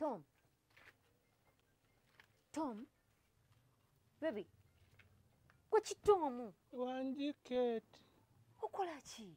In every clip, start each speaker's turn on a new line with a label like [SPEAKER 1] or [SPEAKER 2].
[SPEAKER 1] Tom. Tom. Baby. Kwa chitomu. Wanji
[SPEAKER 2] Kate. Ukola chi.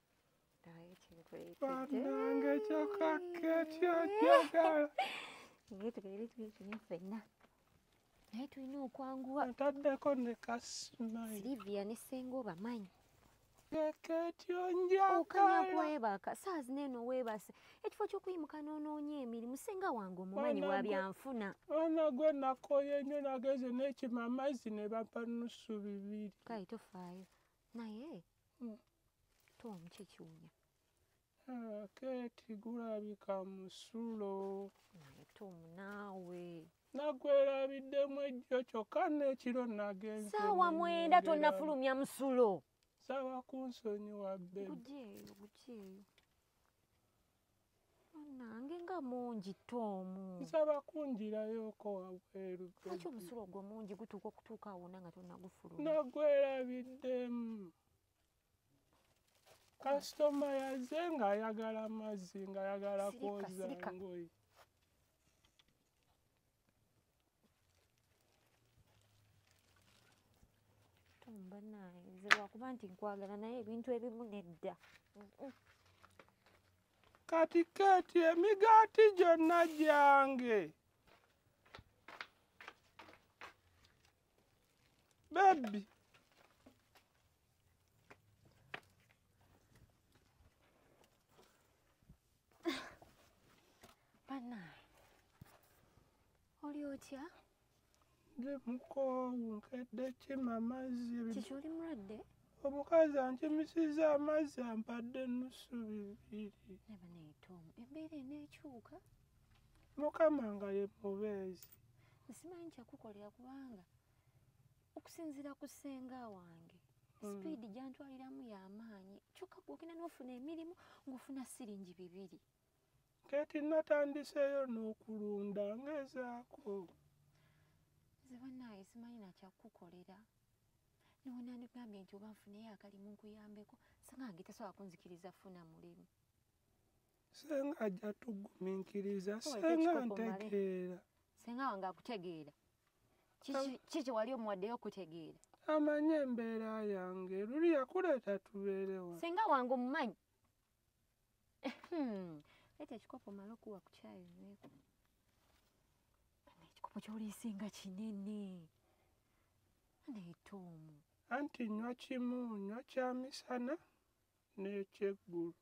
[SPEAKER 1] banange
[SPEAKER 2] kyoka keti ojagala naye
[SPEAKER 1] tubeere twetuli ffenna naye tulina okwanguwa ntaddeko ne
[SPEAKER 2] kasmsilivia ne senga
[SPEAKER 1] obamanyi
[SPEAKER 2] okanyakwebaka
[SPEAKER 1] saazi neeno weebase ekifo kyokuyimuka noonoonya emirimu senga wange omumanyi wa byanfuna ana gwe
[SPEAKER 2] nakoye nnyo nageze nekima amazzi ne bampa nusu bibiri kaye tofaayo
[SPEAKER 1] naye hmm. towamu kyekiwunya ah,
[SPEAKER 2] keeti gulabika musulo naye tomu
[SPEAKER 1] naawe nagwerabiddemu
[SPEAKER 2] ejjo kyokka nekiro nagenze saawa mwenda
[SPEAKER 1] tonafulumya musulo saawa
[SPEAKER 2] kunsonyiwa bbe gujeeyo gujeeyo
[SPEAKER 1] nange nga mungi tomu nsaba
[SPEAKER 2] kunjirayoko wabweru lwaki omusulo ogwo
[SPEAKER 1] mungi gutuuka okutuuka awona nga tonagufulu nagwerabiddemu
[SPEAKER 2] kasitoma yaze ng'ayagala amazzi ng'ayagala kwoza ngoyi
[SPEAKER 1] banaye nze lwakuba nti nkwagala naye ebintu ebimu nedda
[SPEAKER 2] kati kati emigaati gyonna gyange Baby.
[SPEAKER 1] Bana. Oli otya? Ndi
[SPEAKER 2] mukoowu nkedde kima amazzi. Kiki oli mulwadde?
[SPEAKER 1] Omukazi
[SPEAKER 2] ankimisiza amazzi ampadde ennusu bibiri. Naye banaye
[SPEAKER 1] Tom, embeera eneekyuka.
[SPEAKER 2] mukama nga ye mubeezi nsimanyi
[SPEAKER 1] kyakukolera kubanga okusinziira ku ssenga wange mm. sipiidi gyantwaliramu yamaanyi kyokka gwogenda nofuna emirimu ngaofuna siringi bibiri kati
[SPEAKER 2] natandiseeyo n'okulunda ngezaako
[SPEAKER 1] nze banaye simanyi nakyakukolera newonandigambye nti oba nfuneyo akalimu nkuyambeko sangange tasobola kunzikiriza funa mulimu
[SPEAKER 2] senga ajja tuguminkiriza senga ntegeera senga wange
[SPEAKER 1] akutegeera kiki wali omuwaddeyo okutegeera amanyi
[SPEAKER 2] embeera yange luli yakuleeta tubeerewa senga wange omumanyi
[SPEAKER 1] hmm. ete ekikopo mala okuwa ku kyayo nyweko ekikopo kyoliisinga kinene neetoomu anti nywa
[SPEAKER 2] kimu nywa kyamisana n'ekyeggulu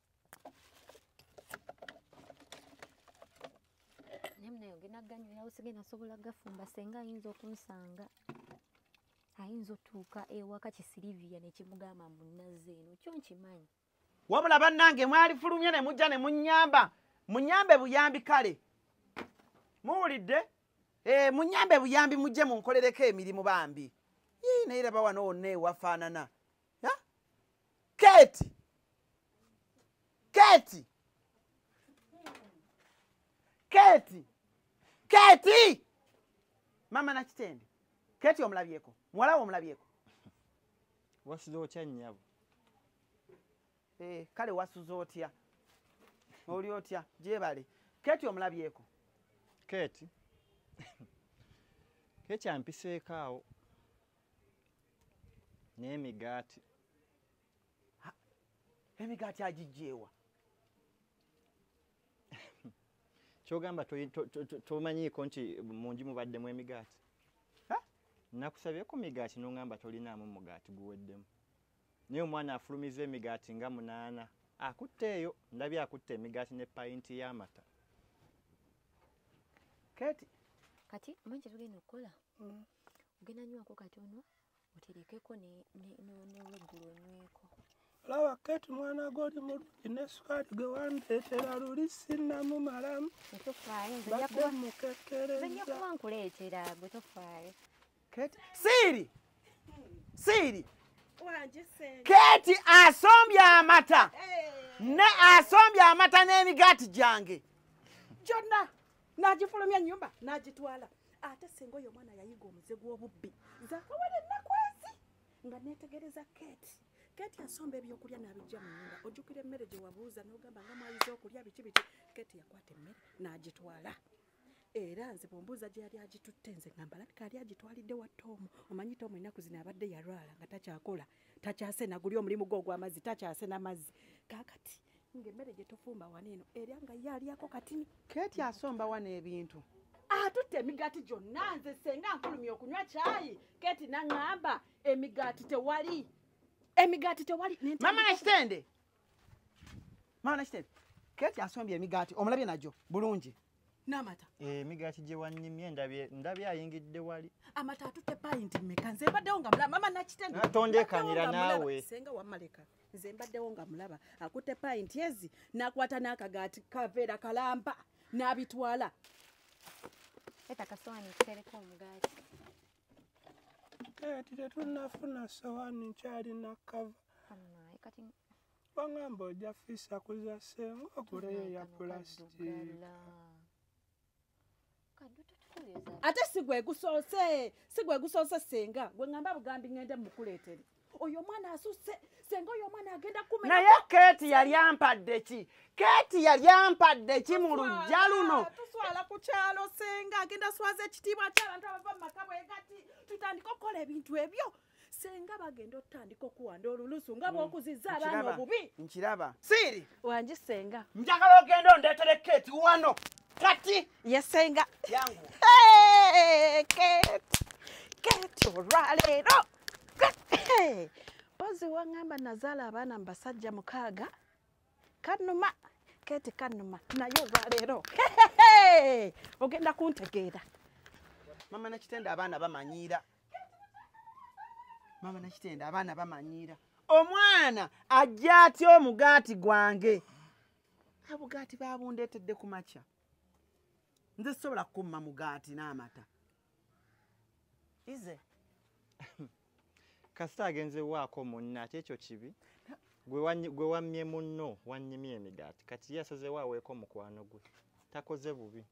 [SPEAKER 1] naye munaye ogenda ganywerawo sigenda sobola gafumba senga ayinza okunsanga ayinza otuuka ewaka kisiliviya nekimugamba mbu nazze eno kyo nkimanyi wabula
[SPEAKER 3] bannange mwalifulumye ne mujja ne munyamba munyambe buyambi kale muwulidde eh, munyambe buyambi mujje munkolereko emirimu bambi yii naye laba wano wonna ewafaanana keti keti keti keti mama nakitende keti omulabyeko muwalawo omulabyeko
[SPEAKER 4] wasuza otya nyabo eh,
[SPEAKER 3] kale wasuza otya oli otya gyebale keti omulabyeko keti
[SPEAKER 4] keti ampiseeko awo n'emigaati
[SPEAKER 3] emigaati agijjeewa
[SPEAKER 4] kyogamba tomanyiiko nti mungi mubaddemu emigaati nakusabye ku migaati nongamba tolinaamu mugaati guweddemu naye omwana afulumiza emigaati nga munaana akutte eyo ndabye akutte emigaati ne payinti y'amata
[SPEAKER 1] kati kati manje tugenda okukola mm. ogenda nywako katono oterekeko neweggulo onyweko laba
[SPEAKER 2] keti mwana goli mulungi ne sukaali gwe wandeetera luli sinnamumalamu badde mukekkerezankuleetera
[SPEAKER 1] gwe tofaayo keti
[SPEAKER 3] siiri siiri
[SPEAKER 5] keti asombye
[SPEAKER 3] amata ne asombye amata n'emigaati gyange kyonna
[SPEAKER 5] n'agifulumya ennyumba n'agitwala ate senga oyo omwana yayiga omuze gw'obubbi zakawala ennaku ezi nga neetegereza kate kate yasomba ebyokulya n'abijja mu nyumba ojjukira emmere gye wabuuza n'ogamba nga mwayiza okulya biki biki kate yakwata emmere n'agitwala era nze bwombuuza gye yali agitutte nze ngamba labika yali agitwalidde wa toomu omanyi toomu ennaku zino abadde yalwala nga takyakola takyasena guli omulimu gwe ogw'amazzi takyasena mazzi kaakati ng'emmere gye tufumba wano eno era nga ye alyako katini keeti asomba
[SPEAKER 3] wano ebintu atutte
[SPEAKER 5] emigaati gyonna nze senga nfulumya okunywa kyayi keeti naŋŋamba emigaati tewali emigaati tewali mama nakitende
[SPEAKER 3] mama nakitende keeti asombye emigaati omulabye nagyo bulungi n'amata
[SPEAKER 5] eh, emigaati gye
[SPEAKER 4] wanyimye ndabye ayingidde wali amata atutte payinti
[SPEAKER 5] mmeka nze mbaddewo nga mulaba mama nakitentondekanira naawe
[SPEAKER 4] senga wamaleka
[SPEAKER 5] nze mbaddewo nga mulaba akutte payinti ezi nakwata n'akagaati kaveera kalamba n'abitwala
[SPEAKER 1] eta kasowani kutereka omugaati
[SPEAKER 2] eh, ti tetunafuna sowani nkyalina kava
[SPEAKER 1] Bangamba
[SPEAKER 2] oja fisa kuza senga okure ya plastic.
[SPEAKER 5] Ate sigwe gusose, sigwe gusose senga. Gwe ngamba bugambi ngende mukuletere. Oyo mwana asuse senga oyo mwana agenda kumenya. Na ye Kate yali
[SPEAKER 3] ampadde ki? Kate yali ampadde ki mu lujja luno? Tuswala ku kyalo
[SPEAKER 5] senga agenda swaze kitiibwa kyala ntabava makabwe gati. Tutandika okukola ebintu ebyo. senga bagenda otandika okuwanda olulusu nga hmm. bwokuziza abaana obubi nkiraba siiri
[SPEAKER 3] wangi senga
[SPEAKER 5] njagala ogenda
[SPEAKER 3] ondeetere keeti wano kati yesenga
[SPEAKER 5] yangu
[SPEAKER 3] keeti
[SPEAKER 5] keeti olwaleero mpozi waŋŋamba nazaala abaana mu basajja mukaaga kanuma keeti kanuma naye olwaleero ogenda kuntegeera
[SPEAKER 3] mama nakitenda abaana bamanyiira mama nakitenda abaana bamanyiira omwana ajja atya omugaati gwange abugaati babundeetedde ku makya nze sisobola kukumma mugaati n'amata ize kasita
[SPEAKER 4] agenze waako munna ate ekyo kibi gwe wammye munno wannyimye emigaati kati ye asazewo aweeko mukwano gwe takoze bubi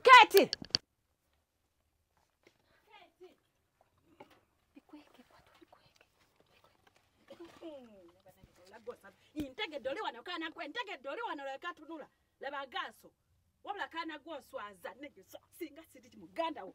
[SPEAKER 1] Keti!
[SPEAKER 5] ntegedde oli wano kaana gwe ntegedde oli wano leka tunula laba gaaso wabula kaana gwe oswaza singa siri muganda wo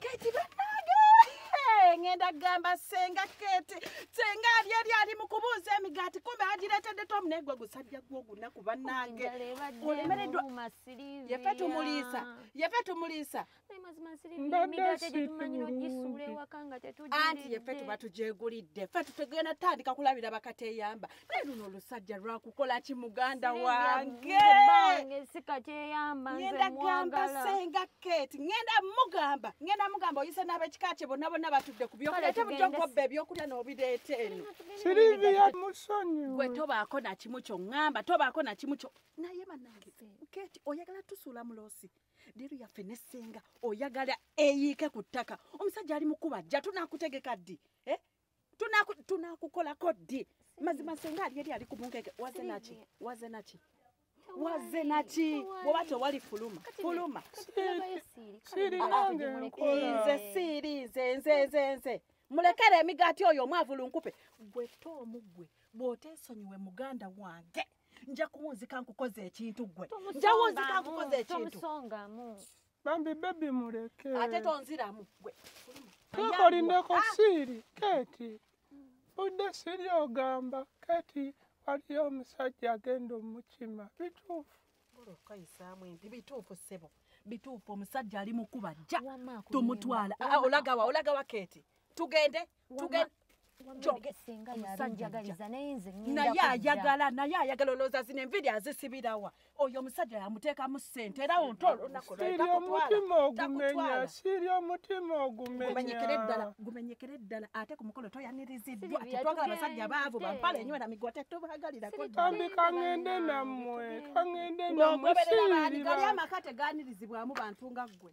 [SPEAKER 5] keti banage ngenda gamba senga keti senga alyeri ali mukubuuza emigaati kumbe agiretedde tomu naye gwe gusajja gwe ogunaku banange olemereddwayefe tumuliisa yefe tumuliisa anti yefe tuba tujegulidde fe tutugenda tutandika kulabira bakateyamba naye luno olusajja lwakukola ki muganda wange ngenda gamba senga kate ngenda mugamba ngenda mugamba oyise n'abekika kye bonna bonna batudde ku byokulya ate bujja nkobba ebyokulya n'obireeta eno siriviya
[SPEAKER 2] musonyiwe gwe tobaako na
[SPEAKER 5] kimu kyo ŋŋamba tobaako na kimu kyo naye banange kate oyagala tusuula muloosi leero yaffe ne senga oyagala eyiike ku ttaka omusajja ali mukuba jja tunakutegeka ddi eh? tunakukolako ddi mazima senga ali eri ali ku bungege waze naki waze naki waze naki bwoba tewali fuluma fuluma nze siiri nze nze nze nze mulekere emigaati oyo omwavulu nkupe gwe to omugwe bw'otesonyiwe muganda wange nja kuwunzika nkukoze ekintu gwe nja wunzika nkukoze ekintu
[SPEAKER 2] bambi bebi muleke ate tonziramu
[SPEAKER 5] gwe tokolindeko
[SPEAKER 2] ah! siiri keti budde siri ogamba keti waliyo omusajja agenda omukima bituufu okayisaamu
[SPEAKER 5] empi bituufu ssebo bituufu omusajja ali mukuba jja tumutwala
[SPEAKER 1] ah,
[SPEAKER 5] olagawa olagawa
[SPEAKER 1] keti
[SPEAKER 5] tugende
[SPEAKER 1] naye ayagala
[SPEAKER 5] naye ayagala olowooza zino enviri azisibirawa oyo omusajja yamuteekamu sente era wonto olunakosiri omutima
[SPEAKER 2] ogumenya siri omutima ogumenyekere ddala gumenyekere ddala
[SPEAKER 5] ate ku mukolo toyaniriziddwa tetwagala abasajja
[SPEAKER 1] baavu
[SPEAKER 5] bampala enyo era
[SPEAKER 1] migwa
[SPEAKER 5] tetubagalirakobambi kangende
[SPEAKER 2] nammwe kangende nammwe
[SPEAKER 5] sirira amaka
[SPEAKER 2] teganirizibwamu
[SPEAKER 5] bantu nga ggwe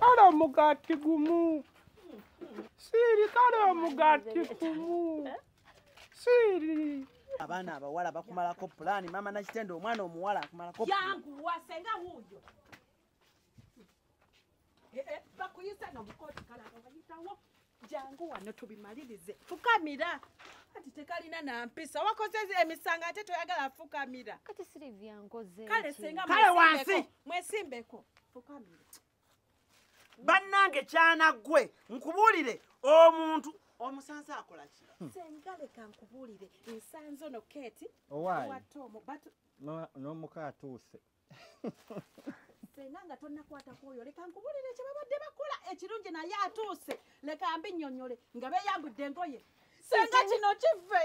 [SPEAKER 1] kale
[SPEAKER 2] omugati gumu siiri kale omugati gumu siiri abaana
[SPEAKER 3] abawala bakumalako pulaani maama nakitende omwana omuwala akumalako yanguwa senga
[SPEAKER 5] wuuyo Eh, eh, bakuyisa nomukooti kalaba bayitawo jangu wano tubimalirize fukamira kati tekalina nampisa wakoze emisanga ate toyagala fukamira kati silivia
[SPEAKER 1] nkoze kale senga kale
[SPEAKER 5] wansi
[SPEAKER 3] mwesimbeko
[SPEAKER 5] fukamira
[SPEAKER 3] bannange kyana gwe nkubuulire omuntu omusanze akola ki hmm. senga leka
[SPEAKER 5] nkubuulire ensanze ono keti owaayi n'omuka
[SPEAKER 4] atuuse
[SPEAKER 5] senga nga tonakwata kwoyo leka nkubulire kyebabadde bakola ekirungi naye atuuse leka mbi nyonyole nga beyambudde engoye senga kino kive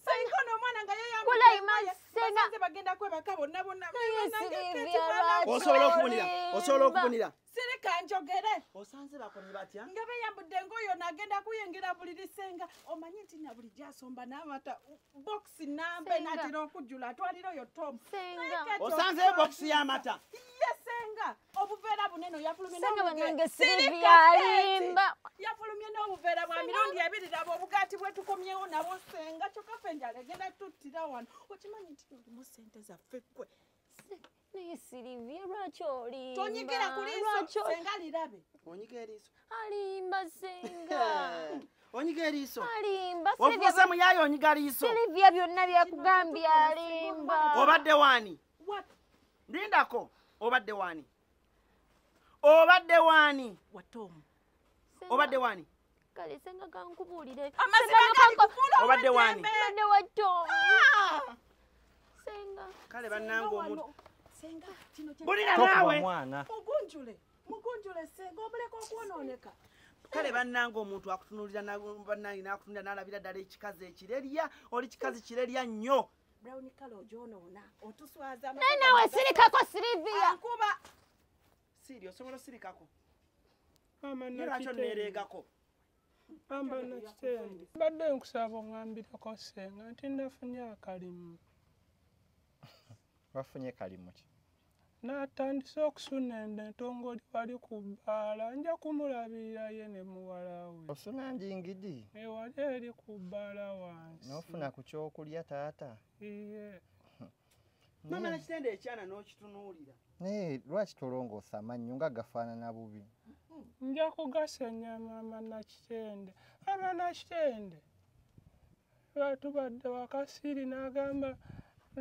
[SPEAKER 5] senga ono omwana nga yeyambuddeosobola
[SPEAKER 3] okubunira sirika njogere
[SPEAKER 5] osanze bakoni
[SPEAKER 3] batya nga beyambudde ngaoyo
[SPEAKER 5] nagenda kuyingira buli lisenga omanyi nti na buli gyasomba namata bokisi nambe natera okujjula
[SPEAKER 1] atwalira
[SPEAKER 5] oyo tom osanze
[SPEAKER 1] bokisi
[SPEAKER 3] yamata ye senga
[SPEAKER 5] obuveera bunene yafulumye
[SPEAKER 1] n'obuveera
[SPEAKER 5] bwa mirundi ebiri laba obugaati bwetukomyewo nabo senga kyokka fe njala egenda tuttira wano okimanyi nti nolimu sente zaffe kwe naye
[SPEAKER 1] sirivye lwaki olimbanyigira ku liiso
[SPEAKER 5] senga lirabe
[SPEAKER 1] onyiga
[SPEAKER 5] eriiso
[SPEAKER 3] alimba
[SPEAKER 1] senga onyiga eriiso
[SPEAKER 3] alimba ofuuse
[SPEAKER 1] muyaye
[SPEAKER 3] onyiga liiso sirivye byonna
[SPEAKER 1] byakugambye alimba obadde waani
[SPEAKER 5] lindako
[SPEAKER 3] obadde waani obadde waani watta omu
[SPEAKER 5] obadde
[SPEAKER 1] waani
[SPEAKER 3] kale senga
[SPEAKER 1] kankubuulire obadde
[SPEAKER 5] waani mbadde
[SPEAKER 3] watta
[SPEAKER 1] omu ah! senga kale bannanga
[SPEAKER 3] omuntu
[SPEAKER 5] bulira naawe
[SPEAKER 3] mugunjule
[SPEAKER 4] mugunjule
[SPEAKER 5] senga omuleka okwonooneka kale bannanga
[SPEAKER 3] omuntu akutunulira bannange n'akutunulira n'alabira ddala ekikazi ekirerya oli kikazi kirerya nnyo brown color
[SPEAKER 5] ojonoona otuswaza naye nawe sirikako
[SPEAKER 1] sirivia nkuba
[SPEAKER 5] siri
[SPEAKER 3] osobola osirikako
[SPEAKER 2] lwaki
[SPEAKER 3] neregako amba
[SPEAKER 2] nakitende mbadde nkusaba ongambirako senga nti nafunye akalimu
[SPEAKER 4] wafunye kalimu ki Natandise
[SPEAKER 2] okusuna ende ntongoli wali ku bbaala nja kumulabirira ye ne muwala we. Osuna ndi ngidi?
[SPEAKER 4] Ewali eri ku
[SPEAKER 2] bbaala wansi. N'ofuna ku kyokulya
[SPEAKER 4] taata? Iye.
[SPEAKER 3] Mama na kitende ekyana n'okitunuulira. Naye lwaki
[SPEAKER 4] tolongoosa amannyo nga gafaanana bubi? Nja
[SPEAKER 2] kugasenya mama na kitende. Mama na kitende. batubadde wakasiiri n'agamba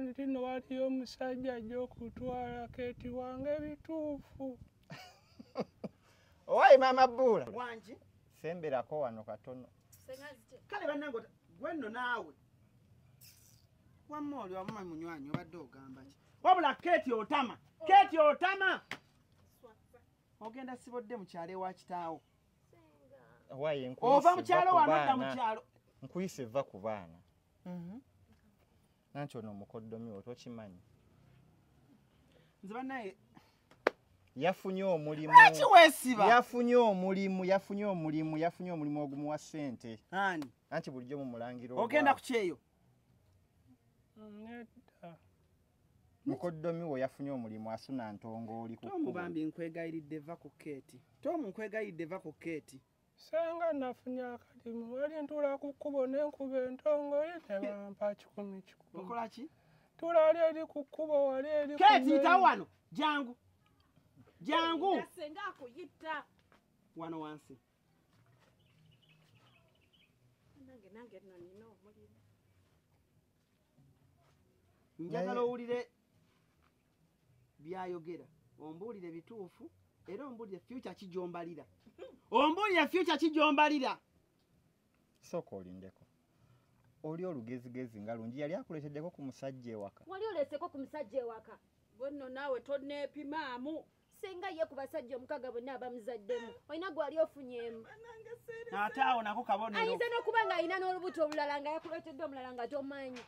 [SPEAKER 2] nti no waliyo omusajja ajja okutwala keti wange ebituufu
[SPEAKER 4] owaye maama bbuula wangi
[SPEAKER 3] semberako wano
[SPEAKER 4] katono kale
[SPEAKER 3] banange gwe nno naawe wamma oli wamuma munywanyi obadde ogamba ki wabula keti otama keti otama ogenda sibodde mukyalo ewa kitaawo ova
[SPEAKER 4] mukyalo wanodda
[SPEAKER 3] mukyalo nkuyise va ku
[SPEAKER 4] baana mhm. nanti ono omukoddomi wo tokimanyi
[SPEAKER 3] nze banaye
[SPEAKER 4] yafunye omulimu
[SPEAKER 3] yafunye omulimu
[SPEAKER 4] yafunye omulimu yafunye omulimu ogumuwa sente anti
[SPEAKER 3] bulijjo mumulangira
[SPEAKER 4] ogenda kukyeyo mukoddomi wo yafunye omulimu asuna ntongooli tomu bambi nkwegayiridde
[SPEAKER 3] va ku keeti tomu nkwegayiridde va ku keeti senga
[SPEAKER 2] nafunye akalimu wali ntula ku kkubo ne nkuba entongooli ne bampa kikumi kikumi okola ki
[SPEAKER 3] tula wali eri
[SPEAKER 2] ku kkubo wali eri keeti nta wano
[SPEAKER 3] jangu
[SPEAKER 2] jangu
[SPEAKER 3] senga
[SPEAKER 5] akuyita
[SPEAKER 3] wano wansi
[SPEAKER 5] nange nange no nina omulimu
[SPEAKER 3] njagala owulire byayogera ombuulire bituufu era ombuulire fyuca kijombalira ombuulire fyuca kijombalira
[SPEAKER 4] sooka olindeko oli olugezigezi nga lungi yali akuleeteddeko ku musajja ewaka wali oleeseko ku musajja
[SPEAKER 1] ewaka gwenno naawe
[SPEAKER 5] toneepimaamu senga ye ku
[SPEAKER 1] basajja omukaga bonna abamuzaddemu olina gwali ofunyemu ate
[SPEAKER 3] awo nako kabonero ayinza n'okuba nga alina
[SPEAKER 1] n'olubuto olulala nga yakuleetedde omulala nga tomanyi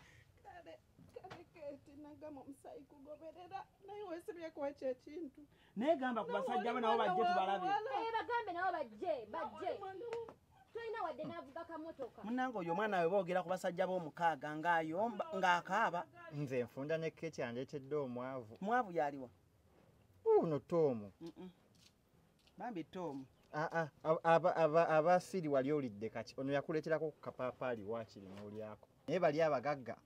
[SPEAKER 1] naye
[SPEAKER 5] gamba ku basajja bo nabo bajje tubalabe
[SPEAKER 3] eh, bagambe nabo
[SPEAKER 1] bajje bajje tolina wadde n'avuga kamotoka munange oyo omwana we
[SPEAKER 3] boogera ku basajja b'omukaaga ng'ayomba ng'akaaba nze nfunda
[SPEAKER 4] ne keti andeetedde omwavu mwavu yaliwa
[SPEAKER 3] uno
[SPEAKER 4] tomu
[SPEAKER 3] bambi tomu ah, ah, abasiri
[SPEAKER 4] wali olidde kaki ono yakuleterako kukapaapaali wakiri nolyako naye bali abagagga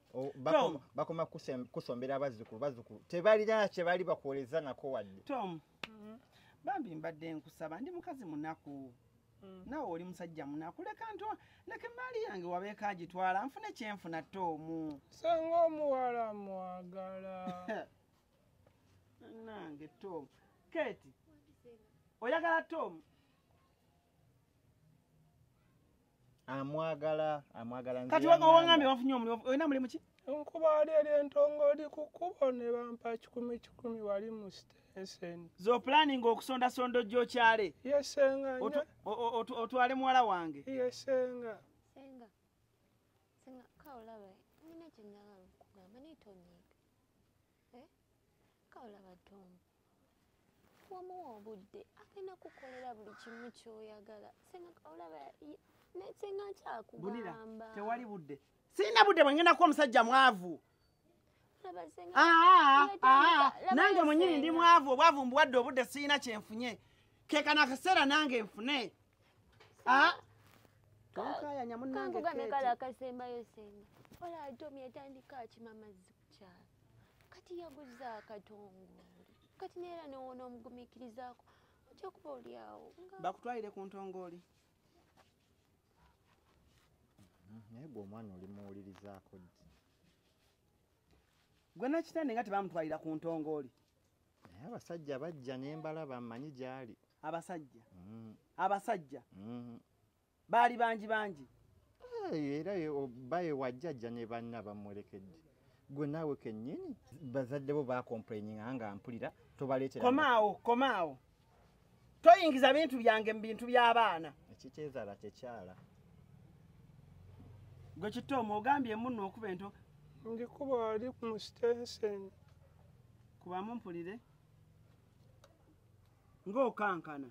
[SPEAKER 4] bakoma kusombera abazzukulu bazzukulu tebalina kyebali bakuwoleza nako wadde tom mm-hmm.
[SPEAKER 3] bambi mbadde nkusaba ndi mukazi munaku mm. nawe oli musajja munaku leka nto leka emaali yange wabeeko agitwala nfune kyenfuna toomu senga omuwala
[SPEAKER 2] mwagala
[SPEAKER 3] nange tom keti oyagala tom amwagala
[SPEAKER 4] amwagala kati
[SPEAKER 3] wangambye wafunye omulimu olina mulimu ki nkubaali eri
[SPEAKER 2] entongo oli ku kkubo ne bampa kikumi kikumi wali mu sitenseni zoplaninga
[SPEAKER 3] okusondasonda ojja okyale yesenga
[SPEAKER 2] otwale
[SPEAKER 3] muwala wange yesenga
[SPEAKER 2] senga
[SPEAKER 1] senga kaolawe nina kyenyagala okugamba naye tonyiga kaolaba tom wamuwa obudde agenda kukolera buli kimu kyoyagala olaba senga nkyakugamba
[SPEAKER 3] tewali budde sirina budde bwengendaku omusajja mwavu ah, ah, ah, nange mwenyini ndi mwavu obwavu mbuwadde obudde sirina kyenfunye kekana akaseera nange nfune ah tonkayanya munange kati kala kasembayo
[SPEAKER 1] senga ola atomi atandika akima mazzi kukyalo kati yaguza akatongole kati neera newona omugumikirizaako ojja kuba oli awo bakutwalire ku
[SPEAKER 3] ntongooli mm-hmm.
[SPEAKER 4] naye gwe omwana oli muwulirizaako ddi
[SPEAKER 3] gwe nakitande nga tebamutwalira ku ntongooli naye
[SPEAKER 4] abasajja bajja nembala bamanyi gyali abasajja mm. abasajja
[SPEAKER 3] mm. baali bangi bangi
[SPEAKER 4] era baye wajjajja ne banna bamulekedde gwe naawe kenyini bazadde bo bakomplaininga nga mpulira tobaleetera komaawo komaawo
[SPEAKER 3] toyingiza bintu byange mu bintu by'abaana ekikyezala
[SPEAKER 4] kyekyala
[SPEAKER 3] gwe kitoomu ogambye emunno okuba ento ndikuba
[SPEAKER 2] ali ku mustensen
[SPEAKER 3] kubamu mpulire ng'okankana